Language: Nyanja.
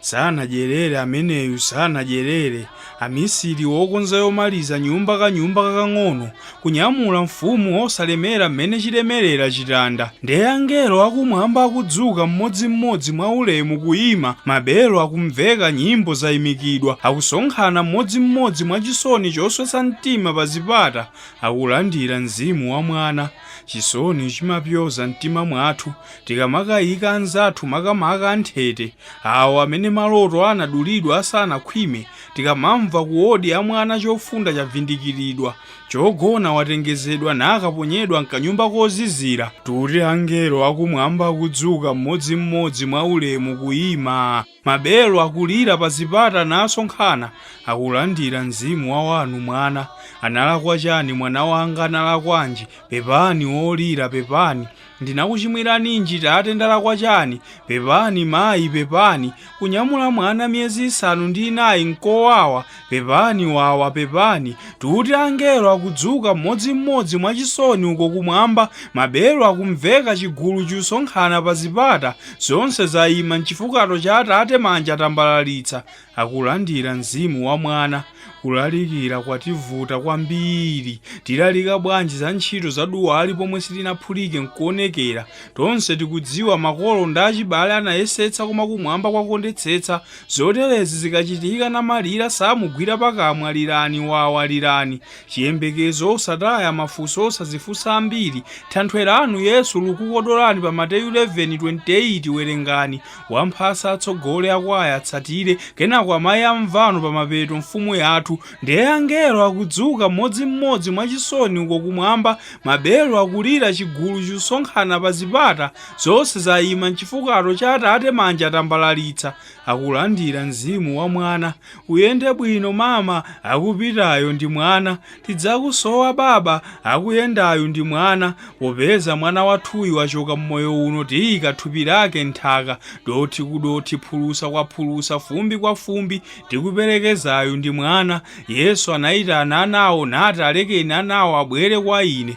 Sanadyerere ameneyu, sanadyerere. Amisiri wokonza yomaliza nyumba kanyumba kakang'ono, kunyamula mfumu wosalemera mmene chilemerera chitanda. Ndiye angelo akumwamba akudzuka mmodzimmodzi mwaulemu kuima, mabelo akumveka, nyimbo zaimikidwa, akusonkhana mmodzimmodzi mwachisoni choswetsa mtima pa zipata, akulandira Mzimu wa Mwana. Chisoni chimapyoza mtima mwathu, Tikamakaika anzathu, makamaka anthete, awo amene maloto anadulidwa asanakhwime, tikamamva kuwodi ya mwana chofunda chavindikiridwa, chogona watengezedwa nakaponyedwa m'kanyumba kozizira, tuti angelo akumwamba akudzuka mmodzimmodzi mwaulemu kuima. Mabelo akulira pa zipata nasonkhana Akulandira mzimu wa wanu mwana Analakwa chani mwana wanga analakwanji Pepani wolira pepani Ndinakuchimwiraninji tate ndalakwa chani Pepani mayi pepani Kunyamula mwana miyezi isanu ndi inayi nkowawa Pepani wawa, pepani, tuti angelo akudzuka mmodzi mmodzi mwa chisoni uko kumwamba, mabelo akumveka chigulu chusonkhana pa zipata, zonse zaima m'chifukato cha Atate manja atambalalitsa, akulandira Mzimu wa Mwana. Kulalikira kwativuta kwambiri. Tilalika bwanji za ntchito za duwali pomwe silinaphulike nkuonekera? Tonse tikudziwa makolo ndi achibale anayesetsa koma kumwamba kwakondetsetsa Zoterezi zikachitika namalira samugwira pakamwa lirani wawa lirani chiyembekezo osataya mafunso osazifunsa ambiri thanthwe lanu yesu likukukodolani pa mateyu 11:28 werengani wamphasa atsogole akwaya atsatire kenako amayi amvano pamapeto mfumu yathu nde angelo akudzuka mmodzi mmodzi mwachisoni uko kumwamba mabelo akulira chigulu chusonkhana pazipata Zonse zaima m'chifukato cha atate manja atambalalitsa akulandira mzimu wa mwana uyende bwino mama akupitayo ndi mwana tidzakusowa baba akuyendayu ndi mwana popeza mwana wathuyu wachoka m'moyo uno tiika thupi lake m'nthaka dothi ku dothi phulusa kwa phulusa fumbi kwa fumbi tikuperekezayu ndi mwana Yesu anaitana anawo nati alekeni anawo abwere kwa ine